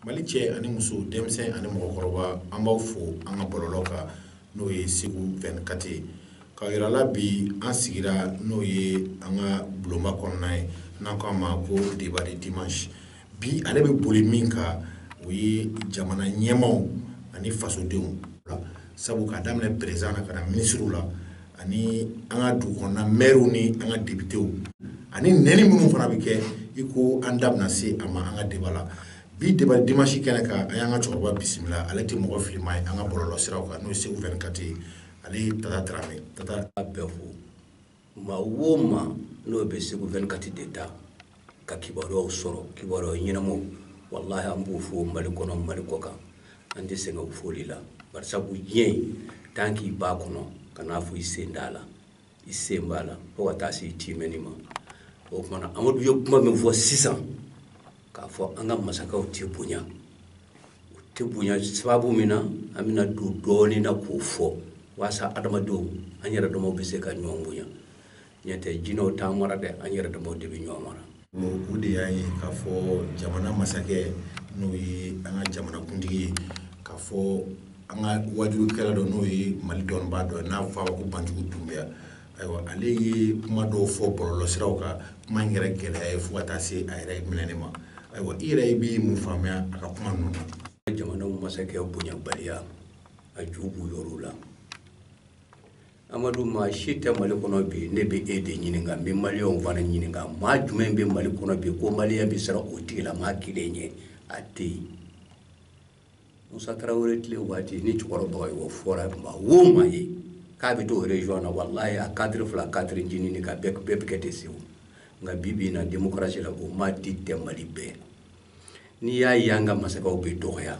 Mali cɛ ani muso denmisɛn ani mɔgɔkɔrɔba an b'aw fo an ka bɔlɔlɔ kan n'o ye segu vingt-quatre ye k'a yira aw la bi an sigira n'o ye an ka bulonba kɔnɔna ye n'an k'a ma ko débat dimanche bi ale bɛ boli min kan o ye jamana ɲɛmaw ani fasodenw sabu ka daminɛ perezan na ka na minisiriw la ani an ka dugu kɔnɔna mɛriw ni an ka depitew ani nɛni minnu fana bɛ kɛ i ko an da bɛna se a ma an ka débat la bi débat dimanche kɛnɛ kan an y'an ka cɛkɔrɔba bisimila ale tɛ mɔgɔ filima ye an ka bɔlɔlɔ siraw kan n'o ye segu vingt-quatre ye ale ye tata tarawele tata bɛɛ fo maa o maa n'o bɛ segu vingt-quatre de ta ka kibaruyaw sɔrɔ kibaruya ɲɛnamaw walahi an b'u fo mali kɔnɔ mali kɔkan an tɛ sɛgɛn u foli la barisabu diɲɛ tan k'i b'a kɔnɔ kan'a fɔ i sen t'a la i sen b'a la fo ka taa se i tɛmɛni ma o tumana amadu ye kuma min fɔ sisan k'a fɔ an ka masakɛw tɛ bonya u tɛ bonya sababu min na an bɛna don dɔɔnin na k'o fɔ walasa adamadenw an yɛrɛ damaw bɛ se ka ɲɔgɔn bonya n'o tɛ jinɛw t'an mara dɛ an yɛrɛ damaw de bɛ ɲɔgɔn mara o de y'a ye k'a fɔ jamana masakɛ n'o ye an ka jamanakuntigi ye k'a fɔ an ka wajukɛla dɔ n'o ye mali dɔnniba dɔ n'a fɔ ko banjugu dunbiya ayiwa ale ye kuma dɔw fɔ bɔlɔlɔsiraw kan kuma in yɛrɛ gɛlɛyara fo ka taa se a yɛrɛ minɛni ma ayiwa i yɛrɛ i bɛ mun faamuya a ka kuma ninnu na jamanaw masakɛ bonyabaliya a ju bɔyɔrɔw la Amadu maa si tɛ mali kɔnɔ bi ne bɛ e de ɲininka n bɛ mali fana ɲininka maa jumɛn bɛ mali kɔnɔ bi ko mali bɛ siran o tigi la maa kelen ye a tɛ yen musa tarawele tile waati ni cɛkɔrɔba ye o fɔra ma wo ma ye k'a bɛ to yɛrɛy na wala ye a kari fila katiri jinin ka bɛɛ bɛɛ bɛ kɛ de segu nka bi bi na demokarasi la o maa si tɛ mali bɛɛ n'i y'a ye an ka masakɛw bɛ dɔgɔya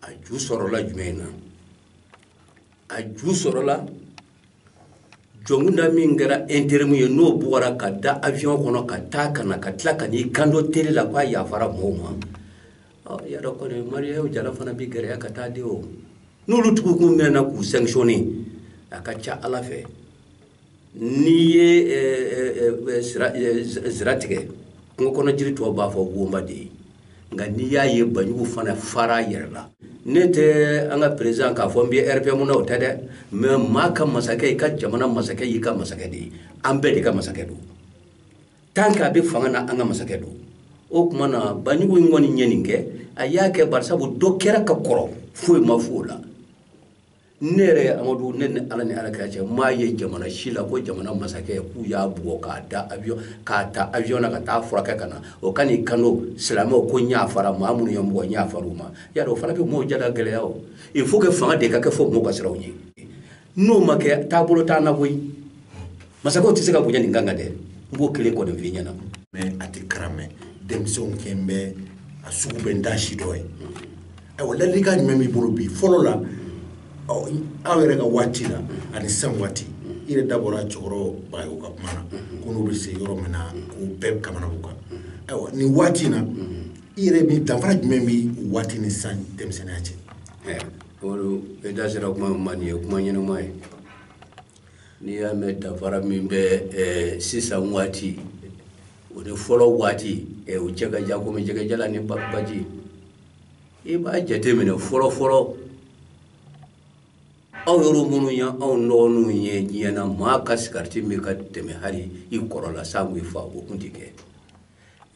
a ju sɔrɔla jumɛn na a ju sɔrɔla jɔnkunda min kɛra interimu ye n'o bugɔra ka da avion kɔnɔ ka taa ka na ka tila ka n'i kanto tele la k'a yafara mɔgɔw ma y'a dɔn kɔni mariyaw jara fana bɛ gɛlɛya ka taa de o n'olu tugu kun minɛna k'u sanctionner a ka ca ala fɛ n'i ye sira tigɛ kungo kɔnɔ jiri tɔw b'a fɔ o y'an ba de ye nka n'i y'a ye banjugu fana fara yɛrɛ la ne tɛ an ka perezan k'a fɔ n bɛ RPM na o tɛ dɛ mais maa ka masakɛ i ka jamana masakɛ y'i ka masakɛ de ye an bɛɛ de ka masakɛ don tan k'a bɛ fanga na an ka masakɛ don o tuma na banjugu in kɔni ye nin kɛ a y'a kɛ barisabu dɔ kɛra ka kɔrɔ foyi ma fɔ o la ne yɛrɛ ye amadu ne ni ala ni ala kira cɛ m'a ye jamana si la ko jamana masakɛ k'u y'a bugɔ k'a da avion k'a ta avion na ka taa furakɛ ka na o ka n'i kanto silamɛw ko n yafara maa minnu ye n bugɔ n yafara u ma y'a dɔn o fana bɛ mɔgɔw jada gɛlɛya o il faut que fanga de ka kɛ fo mɔgɔw ka siran u ɲɛ n'o ma kɛ taabolo t'an na koyi masakɛw tɛ se ka bonya nin kan kan dɛ n b'o kelen kɔni f'i ɲɛna mɛ a tɛ karamɛ denmisɛnw kɛn bɛ a sugu bɛ n da si dɔ ye ayiwa ladilikan jumɛn b'i bolo bi fɔlɔ la aw yɛrɛ ka waati la ani sisan waati i yɛrɛ da bɔra cɛkɔrɔba ye u ka kuma na ko n'u bɛ se yɔrɔ min na k'u bɛɛ kamana b'u kan ayiwa nin waati in na i yɛrɛ min danfara jumɛn bɛ waati ni sisan denmisɛnninya cɛ o da sera kuma min ma nin ye kuma ɲɛnama ye n'i y'a mɛn danfara min bɛ eh, sisan waati o ni fɔlɔ waati eh, o cɛ ka jan komi jɛgɛ jalan ni baji i b'a jateminɛ fɔlɔfɔlɔ aw yɛrɛ minnu ye anw dɔgɔninw ye diɲɛ na maa ka sigariti min ka tɛmɛ hali i kɔrɔ la sanko i fa o tun tɛ kɛ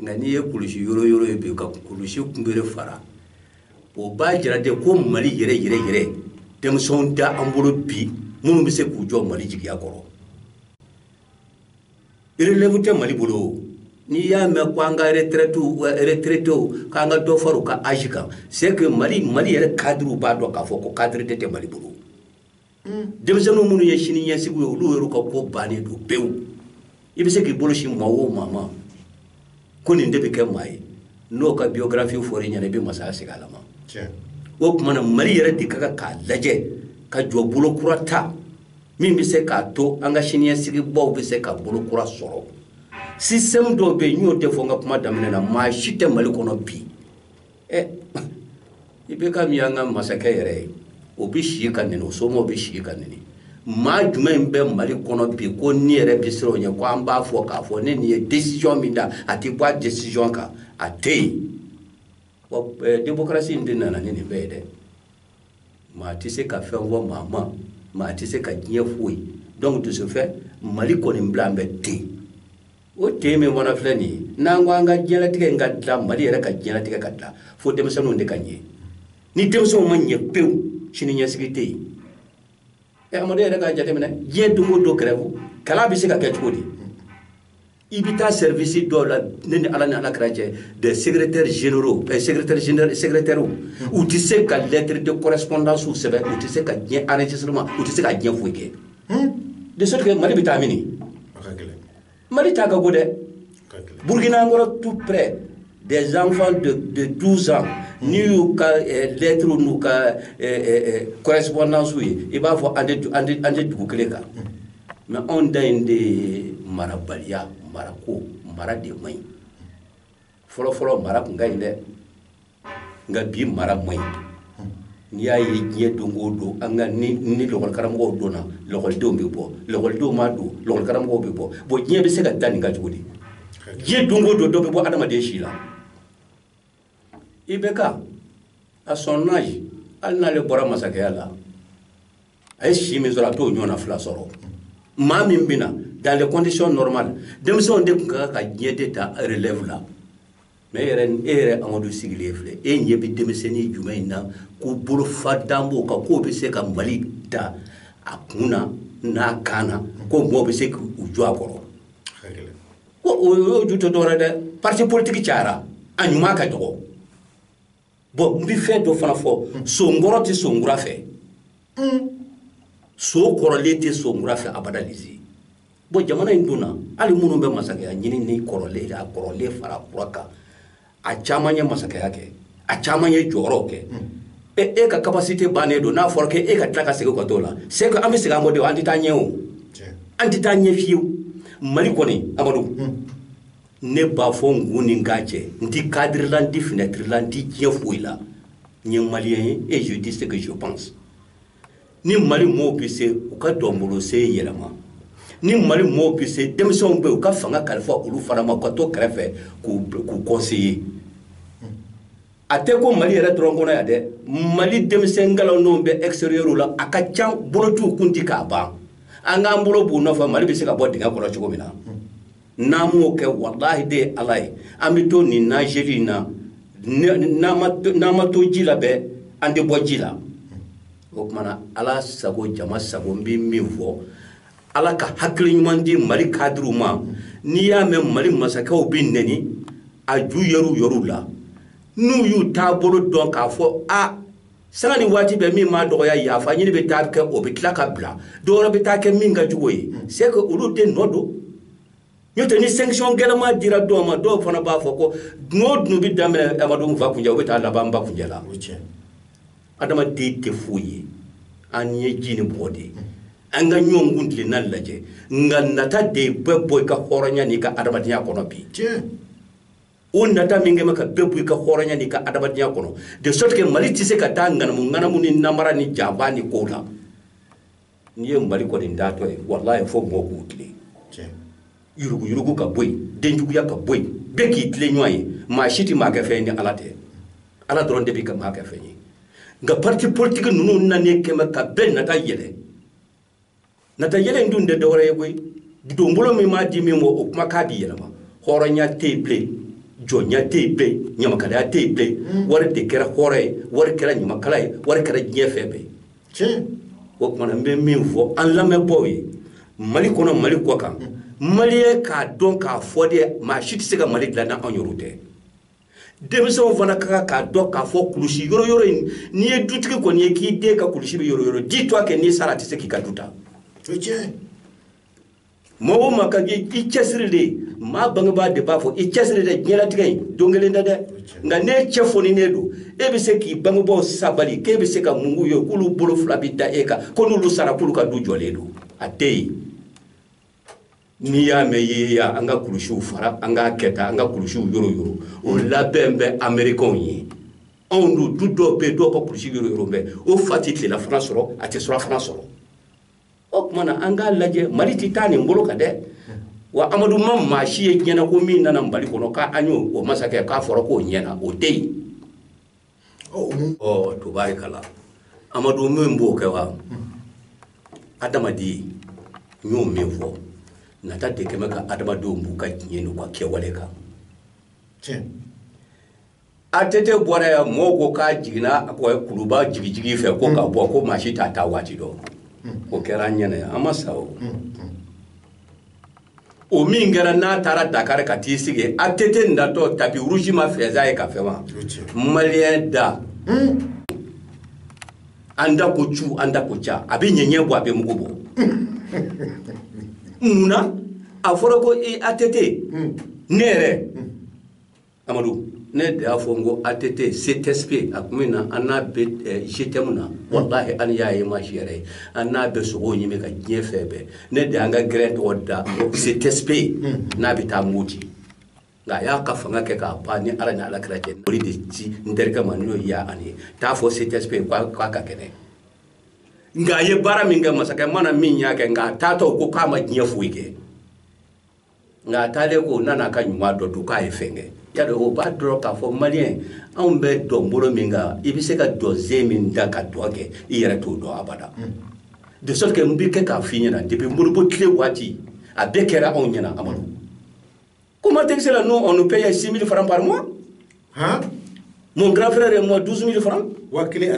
nka n'i ye kulusi yɔrɔ yɔrɔ ye bi ka kulusi kunbere fara o b'a jira de ko mali yɛrɛ yɛrɛ yɛrɛ denmisɛnw t'an bolo bi minnu bɛ se k'u jɔ mali jigiya kɔrɔ relève tɛ mali bolo o n'i y'a mɛn ko an ka retraitew retraitew k'an ka dɔ fara u ka âge kan c'est que mali mali yɛrɛ cadrew b'a dɔn k'a fɔ ko cadre de tɛ mali bolo denmisɛnninw minnu ye sini ɲɛsigiw ye olu yɛrɛ ka ko bannen don pewu i bɛ se k'i bolo sin maa o maa ma ko nin de bɛ kɛ maa ye n'o ka biyografi fɔra i ɲɛna i bɛ masaya segin ala ma o tuma na mali yɛrɛ de ka kan k'a lajɛ ka jɔ bolo kura ta min bɛ se k'a to an ka siniɲɛsigibaw bɛ se ka bolo kura sɔrɔ système dɔw bɛ yen n y'o de fɔ n ka kuma daminɛ na maa si tɛ mali kɔnɔ bi ɛ i bɛ ka min y'an ka masakɛ yɛrɛ ye o bɛ si ka nɛni o somɔgɔw bɛ si ka nɛni maa jumɛn bɛ mali kɔnɔ bi ko ni yɛrɛ bɛ siran o ɲɛ ko an b'a fɔ k'a fɔ ni nin ye décision min ta a tɛ bɔ a décision kan a tɛ yen wa démocratie in de nana ni nin bɛɛ ye dɛ maa tɛ se ka fɛn fɔ maa ma maa tɛ se ka diɲɛ foyi donc de ce fait mali kɔni bi la an bɛ ten o te min fana filɛ nin ye n'an ko an ka diɲɛlatigɛ in ka dilan mali yɛrɛ ka diɲɛlatigɛ ka dilan fo denmisɛnninw de ka ɲɛ ni denmisɛnw ma ɲɛ pewu sini ɲɛsigi tɛ yen ɛ amadu yɛrɛ k'a jateminɛ diɲɛ don o don grève kalan bɛ se ka kɛ cogo di i bɛ taa sɛrivisi dɔw la ne ni ala ni ala kira cɛ des secrétaires généraux eh, secrétaire général secrétaire u tɛ se ka lettre de correspondance sɛbɛn u tɛ se ka diɲɛ enregistrement u tɛ se ka diɲɛ foyi kɛ de sorte que mali bɛ taa mini mali ta ka go dɛ burkina an kɔrɔ tout près des enfants de, de 12 ans n'i y'u ka eh, lettre n'u ka eh, eh, eh correspondance ye i b'a fɔ an tɛ dugu kelen kan mais anw ta in de ye marabaliya marako mara de man ɲi fɔlɔfɔlɔ mara tun ka ɲi dɛ nka bi mara man ɲi n'i y'a ye diɲɛ don o don an ka ni ni lɔgɔlikaramɔgɔw donna lɔgɔlidenw bɛ bɔ lɔgɔlidenw ma don lɔgɔlikaramɔgɔw bɛ bɔ bon diɲɛ bɛ se ka da nin kan cogo di diɲɛ don o don dɔ bɛ bɔ adamaden si la ibk à son âge hali n'ale bɔra masakɛya la a ye si min sɔrɔ a t'o ɲɔgɔnna fila sɔrɔ maa min bɛ na dans les conditions normales denmisɛnw de tun ka kan ka diɲɛ de ta relève la mais e yɛrɛ e yɛrɛ amadu sigilen filɛ e ɲɛ bɛ denmisɛnnin jumɛn in na ko bolo fa dan b'o kan k'o bɛ se ka mali ta a kun na n'a kan na ko mɔgɔw bɛ se k'u jɔ a kɔrɔ ko o y'o ju tɛ dɔwɛrɛ dɛ parti politique cayara a ɲuman ka dɔgɔ bon n bɛ fɛn dɔ fana fɔ sonkɔrɔ tɛ sonkura fɛ son kɔrɔlen tɛ sonkura fɛ abada lizi bon jamana in donna hali minnu bɛ masakɛya ɲini ni kɔrɔlen a kɔrɔlen fara kura kan a caman ye masakɛya kɛ a caman ye jɔyɔrɔw kɛ e e ka capacité bannen don n'a fɔra k'e ka tila ka segin ka t'o la c'est an bɛ segin an kɔ de an tɛ taa ɲɛ o an tɛ taa ɲɛ fiyewu mali kɔni amadu ne b'a fɔ n kun ni k'a cɛ n ti kadiri la n ti finɛtiri la n ti diɲɛ foyi la n ye maliyɛn ye et je dis ce que je pense ni mali mɔɔw bɛ se u ka dɔnbolose yɛlɛma ni mali mɔɔw bɛ se denmisɛnw bɛ u ka fanga kalifa olu fana ma u ka to kɛrɛfɛ k'u conseiller a tɛ ko mali yɛrɛ dɔrɔn kɔnɔ yan dɛ mali denmisɛn kalannenw bɛ extérieur la a ka ca bolo t'u konti ka ban an k'an bolo b'u nɔfɛ mali bɛ se ka bɔ dingɛ kɔnɔ cogo min na n'an m'o kɛ walahi de ye ala ye an bɛ to nin nazeli in na n'an ma to ji la bɛɛ an tɛ bɔ ji la o tuma na ala sago jama sago n bɛ min fɔ ala ka hakili ɲuman di mali kadiriw ma n'i y'a mɛn mali masakɛw bɛ nɛni a ju yɛr'u yɛrɛw la n'u y'u taabolo dɔn k'a fɔ a sanga ni waati bɛɛ min ma dɔgɔya yafa ɲini bɛ taa kɛ o bɛ tila ka bila dɔwɛrɛ bɛ taa kɛ min ka jugu ye hmm. c'est que olu de nɔ don n'o tɛ ni sanction gɛlɛma dira dɔw ma dɔw fana b'a fɔ ko dun o dun bɛ daminɛ adamadenw fa kunjɛ o bɛ taa laban n ba kunjɛ la adamaden tɛ foyi ye an ye ji ni bɔgɔ de ye hmm. an ka ɲɔgɔn kuntilenna lajɛ nka nata de bɛ bɔ i ka hɔrɔnya n'i ka adamadenya kɔnɔ bi o nata min kɛlen bɛ ka bɛɛ bɔ i ka hɔrɔnya n'i ka adamadenya kɔnɔ de sorte que mali tɛ se ka taa ŋanamu ŋanamu ni namara ni janfa ni kow la n'i ye mali kɔni dilantɔ ye walayi fo mɔgɔw k'u tilen yuruguyurugu ka bɔ yen denjuguya ka bɔ yen bɛɛ k'i tilen ɲɔgɔn ye maa si tɛ maa kɛ fɛn ye ni ala tɛ ala dɔrɔn de bɛ se ka maa kɛ fɛn ye nka parti politiki ninnu nanen kɛlen bɛ ka bɛɛ nata yɛlɛ nata yɛlɛ in dun tɛ dɔwɛrɛ ye koyi donbolo min m'a di min ma o kumakan b'i yɛlɛma hɔrɔnya tɛ yen bilen jɔnya tɛ yen bilen ɲamakalaya tɛ yen bilen mm. wari de kɛra hɔrɔn ye wari kɛra ɲamakala ye wari kɛra diɲɛ fɛn bɛɛ ye o tuma na n bɛ min fɔ an lamɛnbaaw ye mali kɔnɔ mali kɔkan mm. maliyɛnw k'a dɔn k'a fɔ de maa si tɛ se ka mali dilan n'anw yɛrɛw tɛ denmisɛnw fana ka kan k'a dɔn k'a fɔ kulusi yoroyoro in n'i ye dutigi kɔni ye k'i den ka kulusi bɛ yoroyoro di to a kɛ n'i sara a tɛ se k'i ka du ta maa o maa ka kɛ i cɛsiri de ye maa bangebaa de b'a fɔ i cɛsiri dɛ diɲɛlatigɛ in don kelen tɛ dɛ nka n'e cɛ fooninen don e bɛ se k'i bangebaaw sabali k'e bɛ se ka mun k'u ye k'olu bolo fila bɛ da e kan ko n'olu sara k'olu ka du jɔlen don a tɛ yen n'i y'a mɛn yeeya an ka kulusiw fara an k'a kɛ tan an ka kulusiw yoroyoro o labɛn bɛ amerikɛnw ye anw dun du dɔw bɛ yen dɔw ka kulusi yoroyoro bɛ o fa tɛ tilelafana sɔrɔ a tɛ surafana sɔrɔ o tuma na an k'a lajɛ mali tɛ taa nin bolo kan dɛ wa amadu ma maa si ye ɲɛna ko min nana mali kɔnɔ k'an y'o o masakɛ k'a fɔra k'o ɲɛna o tɛ yen tubarikala amadu min b'o kɛ wa adamaden n y'o min fɔ nata de kɛlen bɛ ka adamadenw b'u ka diɲɛ n'u ka kɛwale kan ATT bɔra yan mɔgɔw ko k'a jiginna kuluba jigijigi fɛ ko ka bɔ ko maa si t'a ta waati dɔn o kɛra an ɲɛna an ma sa o o min kɛra n'a taara dakari ka t'i sigi ATT natɔ tapis rouge ma fɛnsɛn a ye ka fɛn wa maliyɛn da hmm. an da ko cu an da ko ca a bɛ ɲɛɲɛ bɔ a bɛ mugu bɔ mun na a fɔra ko i ATT hmm. ne yɛrɛ hmm. amadu ne de y'a fɔ n ko att ctsp a tuma min na an n'a bɛ gtɛmu na walahi an y'a ye maa si yɛrɛ ye an n'a bɛ sogow ɲimi ka diɲɛ fɛn bɛɛ ne de y'an ka gɛrɛn tɔgɔ da ctsp n'a bɛ taa moti nka a y'a ka fanga kɛ k'a ban ni ala ni ala kira cɛ o de ci n terikɛ ma n'o y'a ani ye t'a fɔ ctsp k'a ka kɛnɛ nka a ye baara min kɛ masakɛ mana min y'a kɛ nka a taatɔ ko k'a ma diɲɛ foyi kɛ nka a taalen kɔ nana ka ɲuman dɔ dɔn k'a ye fɛn kɛ yadɔ o b'a dɔrɔn k'a fɔ maliyɛn anw bɛ dɔn bolo min kan i bɛ se ka dɔnsen min da ka dɔn kɛ i yɛrɛ t'o dɔn abada mm. de sorte que n bɛ kɛ k'a f'i ɲɛna depuis modibo tile waati a bɛɛ kɛra anw ɲɛna amadu comment est-ce que là nous on nous paye 6 000 francs par mois hein mon grand frère et moi 12 000 francs waa kelen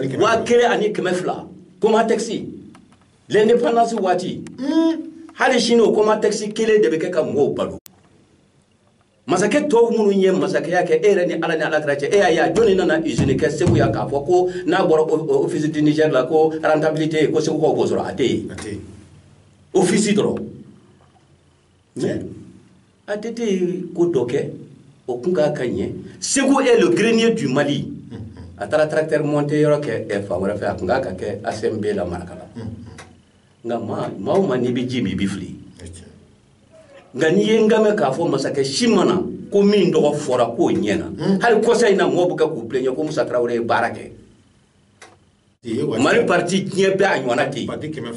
ani kɛmɛ fila comment est-ce l'indépendance waati hali sini o komatɛkisi kelen de bɛ kɛ ka mɔgɔw balo masakɛ tɔw minnu ye masakɛya kɛ e yɛrɛ ni ala ni alakira cɛ e y'a ye a jɔnni nana usine kɛ segu yan k'a fɔ ko n'a bɔra office du niger la ko rentabilité ko segukaw b'o sɔrɔ a tɛ yen ofisi dɔrɔn ATT ye ko dɔ kɛ o kun kan ka ɲɛ Segu est le grenier du Mali a taara tracteur monter yɔrɔ kɛ eh, fan wɛrɛ fɛ a kun kan ka kɛ ACMB la Marakala nka maa maa o maa n'i bɛ ji min i bɛ fili nka n'i ye n ka mɛn k'a fɔ masakɛ si ma na ko min tɔgɔ fɔra k'o ɲɛna hali kɔsa in na mɔgɔw bɛ kɛ k'u plaigner ko Musa Tarawele ye baara kɛ mali parti diɲɛ bɛɛ a ɲɔgɔnna tɛ yen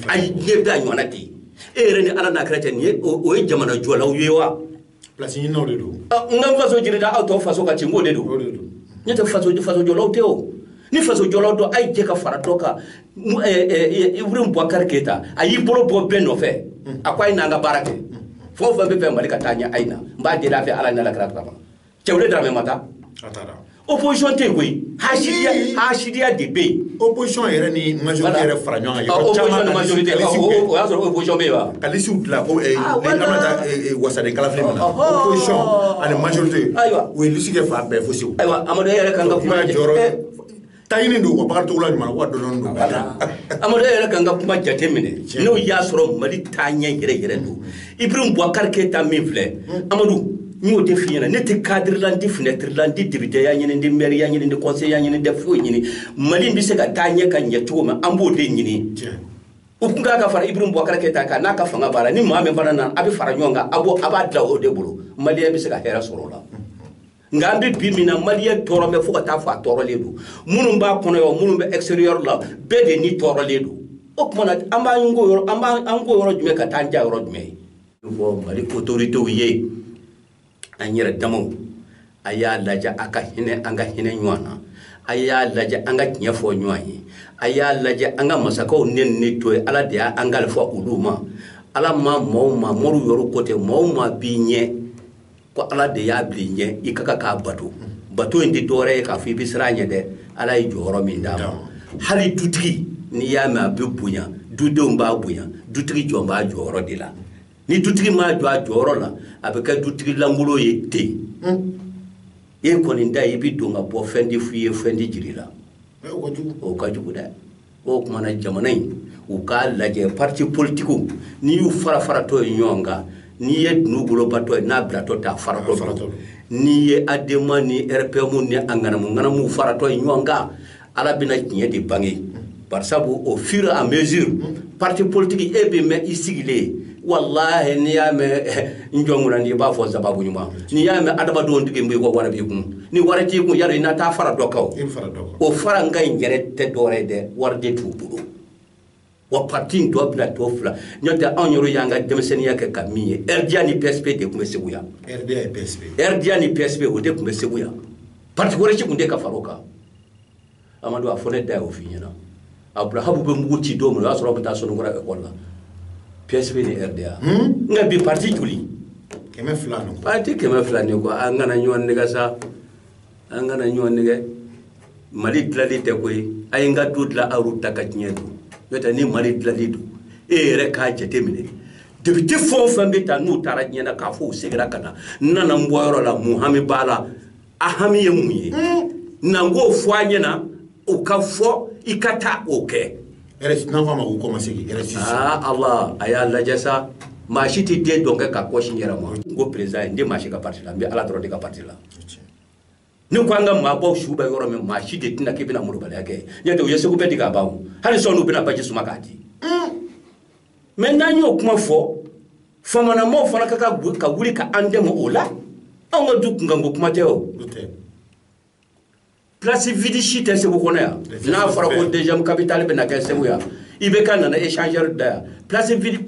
ayi diɲɛ bɛɛ a ɲɔgɔnna tɛ yen e yɛrɛ ni ala n'a kira cɛ nin ye o ye jamana jɔlaw ye wa place ɲininaw de don n ka n faso jiridi aw tɔw faso ka ci n k'o de don ne tɛ faso faso jɔlaw tɛ o ni faso jɔlaw don a ye jɛ ka fara dɔ kan ibrahim bubakari keyita a y'i bolo bɔ bɛɛ nɔfɛ a ko a ye n'an ka baara kɛ fɛn o fɛn b'a fɛ mali ka taa ɲɛ a ye na n b'a deli a fɛ ala ni alakira kama cɛwule daramɛ ma taa a taara opposition tɛ yen koyi hasidiya hasidiya de bɛ yen opposition yɛrɛ ni majorité yɛrɛ fara ɲɔgɔn kan yɔrɔ caman na majorité o y'a sɔrɔ opposition bɛ yen wa ka lisiw dilan ko eh, ah, eh, an bɛ taa eh, wasaden kalafili min na oh, oh, oh. opposition ani majorité ayiwa u ye lisi kɛ fan bɛɛ fo segu ayiwa amadu e yɛrɛ kan ka kuma jɔyɔrɔ taɲini don ka baara cogola ɲuman wa dɔnni don ka taa amadu yɛrɛ kan ka kuma jate minɛ n'o y'a sɔrɔ mali taaɲɛ yɛrɛ yɛrɛ don ibrahim bubakari keyita min filɛ amadu n y'o de f'i ɲɛna ne tɛ kadiri la n tɛ finɛtiri la n tɛ depiteya ɲini n tɛ mɛriya ɲini n tɛ kɔnseyeya ɲini n tɛ foyi ɲini mali bɛ se ka taa ɲɛ ka ɲɛ cogo min an b'o de ɲini u tun kan ka fara ibrahim bubakari keyita kan n'a ka fanga b'a la ni maa min fana nana a bɛ fara ɲɔgɔn kan a b'a dilan o de bolo maliyɛn bɛ se ka hɛrɛ sɔrɔ o la nka an bɛ bi min na maliyɛn tɔɔrɔ bɛ fo ka taa fɔ a tɔɔrɔlen don minnu b'a kɔnɔ yan minnu bɛ extérieur la bɛɛ de ni tɔɔrɔlen don o tuma na an b'an ko yɔrɔ an b'an an ko yɔrɔ jumɛn ka taa an ja yɔrɔ jumɛn ye fɔ mali autorités ye an yɛrɛ damaw a y'a lajɛ a ka hinɛ an ka hinɛ ɲɔgɔn na a y'a lajɛ an ka tiɲɛ fɔ ɲɔgɔn ye a y'a lajɛ an ka masakɛw nɛni to yen ala de y'an kalifa olu ma ala ma mɔgɔw ma moriw yɔrɔ ko tɛ mɔgɔw ma b'i ɲɛ ko ala de y'a bila i ɲɛ i ka kan k'a bato bato in tɛ dɔwɛrɛ ye k'a fɔ i bɛ siran a ɲɛ dɛ ala ye jɔyɔrɔ min d'a ma hali dutigi n'i y'a mɛn a bɛ bonya dudenw b'a bonya dutigi jɔlen b'a jɔyɔrɔ de la ni dutigi ma jɔ a jɔyɔrɔ la a bɛ kɛ dutigi lankolon ye ten e kɔni da i bɛ don ka bɔ fɛn tɛ f' i ye fɛn tɛ jir'i la o ka jugu dɛ o tuma na jamana in u k'a lajɛ parti politikiw n'i y'u fara faratɔ ye ɲɔgɔn kan n'i ye dunu golobatɔ ye n'a bilatɔ taa faratɔ n'i ye adema ni rpm ni a ŋanamu ŋanamu faratɔ ye ɲɔgɔn kan ala bɛna tiɲɛ de bange barisabu au fur et à mesure parti politique e bɛ mɛn i sigilen walahi n'i y'a mɛn n jɔnkura n'i b'a fɔ sababu ɲuman n'i y'a mɛn adamadenw tugu b'i kɔ wari b'i kun ni wari t'i kun yadɔ i na taa fara dɔ kan o farankan in yɛrɛ tɛ dɔwɛrɛ ye dɛ wari de t'u bolo wa parti in dɔ bɛna tɔ fila n'o tɛ anw yɛrɛ y'an ka denmisɛnninya kɛ ka min ye rda ni psp de tun bɛ segu yan rda ni psp o de tun bɛ segu yan parti wɛrɛ si tun tɛ ka fara o kan amadu a fɔ ne da y'o f'i ɲɛna aburahamu bɛ mugu ci don min o y'a sɔrɔ aw bɛ taa soninkura ekɔli la psp ni rda hmm? nka bi parti joli kɛmɛ fila nin parti kɛmɛ fila ni kɔ an kana ɲɔgɔn nɛgɛn sa an kana ɲɔgɔn nɛgɛn mali dilali tɛ koyi a ye n ka du dilan aw ta ka diɲɛ don n'o tɛ ni mali dilali don e yɛrɛ k'a jate minɛ depite fɛn o fɛn bɛ taa n'u taara diɲɛ na k'a fɔ u segira ka na n nana n bɔyɔrɔ la mun hami b'a la a hami ye mun ye n'an k'o fɔ a ɲɛna o ka fɔ i ka taa o kɛ n'an k'a ma ko kɔmasegin aa ala a y'a lajɛ sa maa si tɛ den dɔn kɛ k'a kɔ sin i yɛrɛ ma n ko peresidan ye n tɛ maa si ka pariti la n bɛ ala dɔrɔn de ka pariti la ne ko an ka maabaw su bɛ yɔrɔ min maa si de tɛna k'i bɛna malobaliya kɛ ɲɛ tɛ u ye segu bɛɛ di k'a ban o hali sɔɔni u bɛna baji suma k'a di mɛ n'an y'o kuma fɔ faamanamaw fana ka kan ka wuli ka an dɛmɛ o la anw ka du kunkanko kuma tɛ o place vide si tɛ segu kɔnɔ yan n'a fɔra ko deuxième capitale bɛna kɛ segu yan i bɛ ka nana échangeur da yan place vide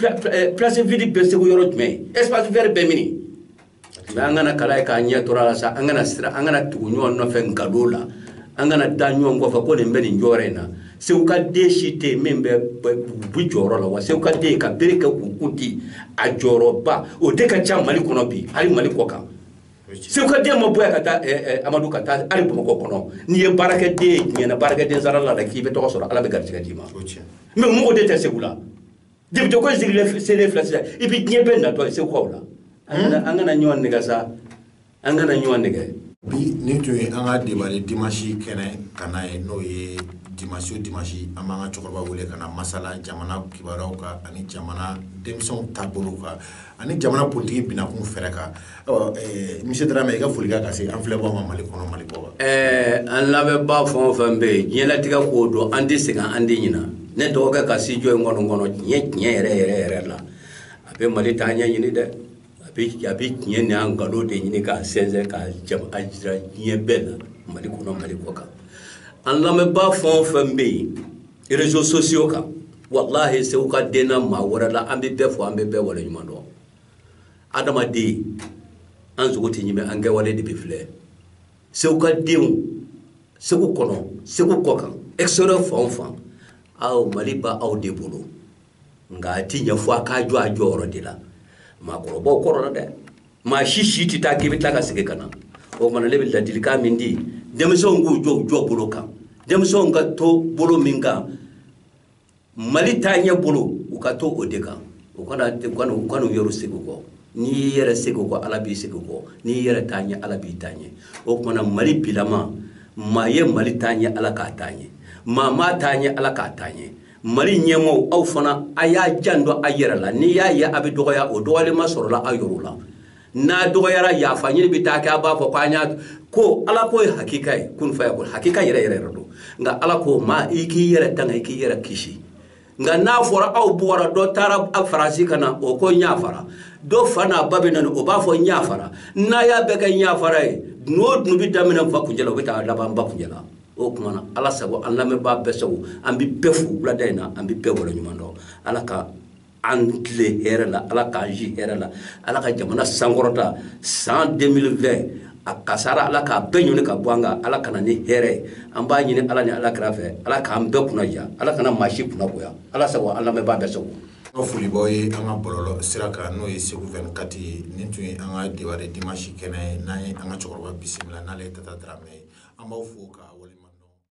place vide bɛ segu yɔrɔ jumɛn espace vert bɛ mini mɛ an kana kala ye k'an ɲɛ turu a la sa an kana sira an kana tugu ɲɔgɔn nɔfɛ nkalon na an kana da ɲɔgɔn kɔfɛ ko nin bɛ nin jɔyɔrɔ in na segu ka den si tɛ yen min bɛ bu jɔyɔrɔ la wa segu ka den ka bere kɛ k'u kun di a jɔyɔrɔba o de ka ca mali kɔnɔ bi hali mali kɔ kan segu ka den ma bɔ yan ka taa eh, eh, amadu ka taa hali bamakɔ kɔnɔ n'i ye baarakɛden ye diɲɛ na baarakɛden sara la dɛ k'i bɛ tɔgɔ sɔrɔ ala bɛ garijɛgɛ d'i ma mɛ mɔgɔ de tɛ segu la jɛbito ko sigile sele fila sisan i bɛ diɲɛ bɛɛ natɔ ye segukaw la an kana ɲɔgɔn nɛgɛn sa an kana ɲɔgɔn nɛgɛn bi nin tun ye an ka deba de dimansi kɛnɛ ka na ye n'o ye dimansi o dimansi an b'an ka cɛkɔrɔba wele ka na masala jamana kibaruyaw kan ani jamana denmisɛnw taabolow kan ani jamana politiki binakun fɛɛrɛ kan Misi tata i ka foli ka se an filɛbaga ma mali kɔnɔ mali ɛɛ an lamɛnbaa fɛn o fɛn bɛ yen diɲɛtigɛ k'o don an tɛ segin an den ɲin ne dɔgɔkɛ ka si jɔ in kɔnɔ kɔnɔ diɲɛ tiɲɛ yɛrɛ yɛrɛ yɛrɛ la a bɛ mali taaɲɛ ɲini dɛ a bɛ tiɲɛ ni an nkalon de ɲini k'a sɛnsɛn k'a jira diɲɛ bɛɛ la mali kɔnɔ mali kɔ kan an lamɛnbaa fɛn o fɛn bɛ yen erezo sosiyo kan wala segu ka den maa wɛrɛ la an bɛ bɛɛ fo an bɛ bɛɛ waleɲuman dɔn adamaden an sogo tɛ ɲimi an kɛwale de bɛ filɛ segu ka denw segu kɔnɔ segu kɔkan extérieur fan o fan aw mali ba aw de bolo nka a tɛ ɲɛ fo a k'a jɔ a jɔyɔrɔ de la maakɔrɔbaw kɔrɔ la dɛ maa si si tɛ taa k'i bɛ tila ka segin ka na o kuma na ne bɛ ladilikan min di denmisɛnw k'u jɔ u jɔ bolo kan denmisɛnw ka to bolo min kan mali taaɲɛ bolo u ka to o de kan u kana u kana u yɛrɛ segin kɔ n'i y'i yɛrɛ segin kɔ ala b'i segin kɔ n'i y'i yɛrɛ taa ɲɛ ala b'i taa ɲɛ o kuma na mali bilama maa ye mali taa ɲɛ ala k'a taa ɲɛ maa maa taa ɲɛ ala k'a taa ɲɛ mali ɲɛmɔgɔw aw fana a y'a janto a yɛrɛ la n'i y'a ye a bɛ dɔgɔya o dɔgɔyalen ma sɔrɔla aw yɔrɔ la n'a dɔgɔyara yafa ɲini bɛ taa kɛ a b'a fɔ ko an y'a ko ala ko ye hakika ye kun fayakun hakika yɛrɛ yɛrɛ yɛrɛ don nka ala ko maa i k'i yɛrɛ tanga i k'i yɛrɛ kisi nka n'a fɔra aw bɔra dɔ taara a faransi ka na o ko n yafara dɔ fa n'a ba bɛ na o b'a fɔ n yafara n'a y'a bɛɛ kɛ n yafara ye dunu o dunu bɛ daminɛ n fa kuncɛ la o bɛ taa laban n ba kuncɛ la o tuma na ala sago an lamɛnbaa bɛɛ sago an bɛ bɛɛ fo wulada in na an bɛ bɛɛ waleɲuman dɔn ala ka an tilen hɛrɛ la ala k'an si hɛrɛ la ala ka jamana sankɔrɔta san 2020 a kasara ala k'a bɛɛ ɲɔni ka bɔ an kan ala ka na ni hɛrɛ ye an b'a ɲini ala ni ala kira fɛ ala k'an bɛɛ kunnadiya ala kana maa si kunnagoya ala sago an lamɛnbaa bɛɛ sago an ka folibɔ ye an ka bɔlɔlɔ sira kan n'o ye segu 24 ye nin tun ye an ka dewari dimansi kɛnɛ ye n'an ye an ka cɛkɔrɔba bisimila n'ale ye tata daramɛ ye an b'aw fo k'aw waleɲuman